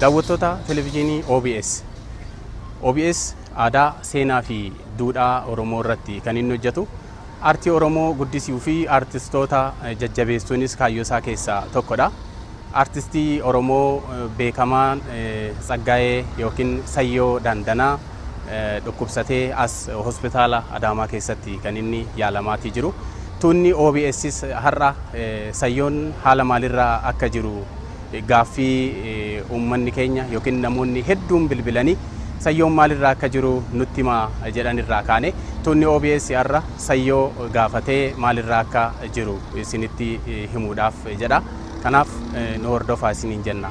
Daawwattoota Televijiinii OBS. OBS aadaa, seenaa fi duudhaa Oromoo irratti kan inni hojjetu. Aartii Oromoo guddisuu fi aartistoota jajjabeessuunis kaayyoo isaa keessaa tokkodha. Aartistii Oromoo beekamaan Tsaggaayee yookiin Sayyoo Daandanaa dhukkubsatee as hospitaala Adaamaa keessatti kan inni yaalamaatii jiru. Tuunni OBSs har'a Sayyoon haala maalirra akka jiru gaaffii uummanni keenya yookiin namoonni hedduun bilbilanii Sayyoon maalirra akka jiru nutti himaa jedhan irraa kaane tuunni OBS har'a Sayyoo gaafatee maalirra akka jiru isinitti himuudhaaf jedha. Kanaaf nu hordofaa isiniin jenna.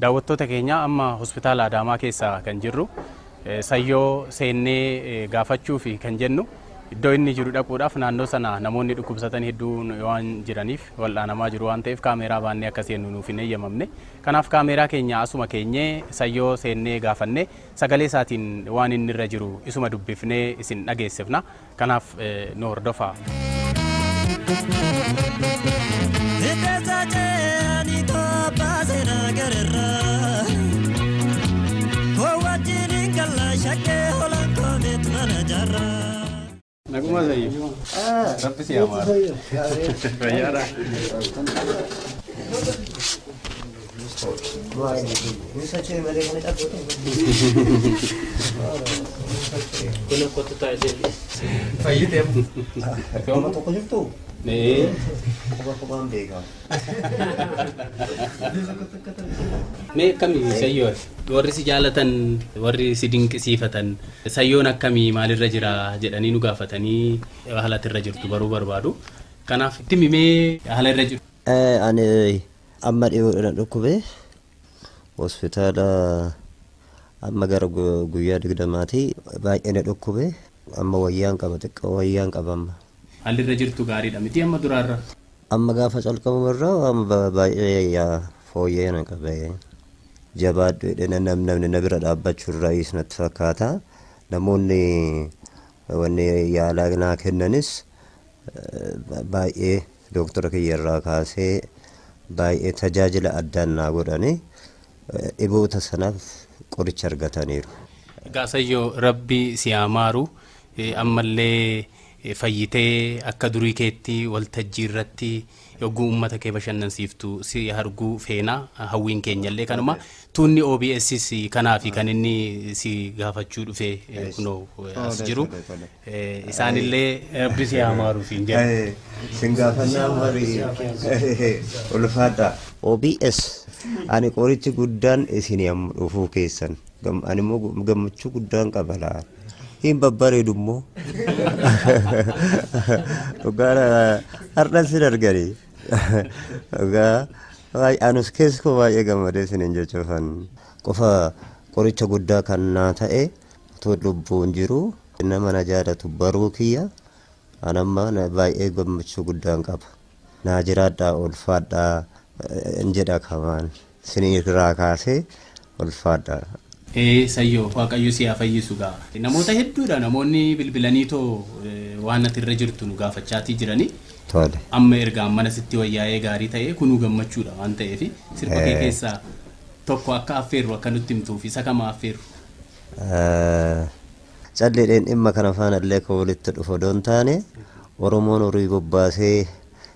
Daawwattoota keenya amma hospitaala Adaamaa keessa kan jirru Sayyoo seennee gaafachuufi kan jennu iddoo inni jiru dhaquudhaaf naannoo sana namoonni dhukkubsatan hedduun waan jiraniif wal'aanamaa jiru waan ta'eef kaameeraa baannee akka seennu nuuf hin eeyyamamne. Kanaaf kaameeraa keenya asuma keenyee Sayyoo seennee gaafannee sagalee isaatiin waan inni irra jiru isuma dubbifnee isin dhageessifna. Kanaaf nu hordofaa. Hiddeessa ce'anii tobbaase nagararra. Koo wajjin hin galla shakkee holaan koo beet mana jarra. Naguma Zayyif. Rabbi si amaara. Fayyaadha. Nama tokko jirtu quba qubaan beekaa. Mee akkamii sayyoon warri si jaalatan warri si dinqisiifatan sayyoon akkamii maalirra jira jedhanii nu gaafatanii haala irra jirtu baruu barbaadu. Kanaaf itti mimee haala irra jiru. Ani Amma dhiyoodha na dhukkube. Hospitaala amma gara guyyaa digdamaati. Baay'ee na dhukkube. Amma wayyaan qaba xiqqoo wayyaan qaba amma. Haalli irra jirtu gaariidha mitii amma duraarra? Amma gaafa calqabamu irra waan baay'ee fooyya'ee na qabe. Jabaadhu jedhee namni na bira dhaabbachuu irraayis natti fakkaata. Namoonni wanni yaalaa naa kennanis baay'ee Dooktara kiyya irraa kaasee baay'ee tajaajila addaan naa godhani. Dhiboota sanaaf qoricha argataniiru. Gaasayyo rabbi si haa maaru. Ammallee fayyitee akka durii keetti waltajjii irratti yogguu ummata kee bashannansiiftu si harguu feena. Hawwiin keenyallee kanuma. Tuunni OBSs kanaafi kan inni si gaafachuu dhufe eh, kunoo eh, as Tole, jiru. tole, tole. Eh, Isaanillee rabbi si haa maaruuf hin jedhu. Eh, Sin gaafannaa marii ulfaadha. OBS ani qorichi guddaan isin amma dhufuu keessan Gam- ani immoo gu- gammachuu guddaan qaba laa hin babbareedu immoo dhugaa har'an sin arganii Dhugaa baay'ee anus keessi koo baay'ee gammadee isiniin jechuufan. Qofa qoricha guddaa kan naa ta'e utuu lubbuun jiru nama na jaalatu baruu kiyya an amma na- baay'ee gammachuu guddaan qaba. Naa jiraadhaa ulfaadhaa eh, hin jedha kamaan. Isinii irraa kaasee ulfaadha. Ee sayyoo waaqayyo si haa fayyisu gaa namoota hedduudha namoonni bilbilaniitoo waan ati irra jirtu nu gaafachaatii jiranii Tole. amma erga ammana sitti wayyaa'ee gaarii ta'ee kunuu gammachuudha waan ta'eef sirba kee Ee. keessaa tokko akka affeerru akka nutti himtuuf isa kama affeerru Eh, Calleedheen dhimma kana faana illee akka walitti dhufu odoo hin taane Oromoon horii bobbaasee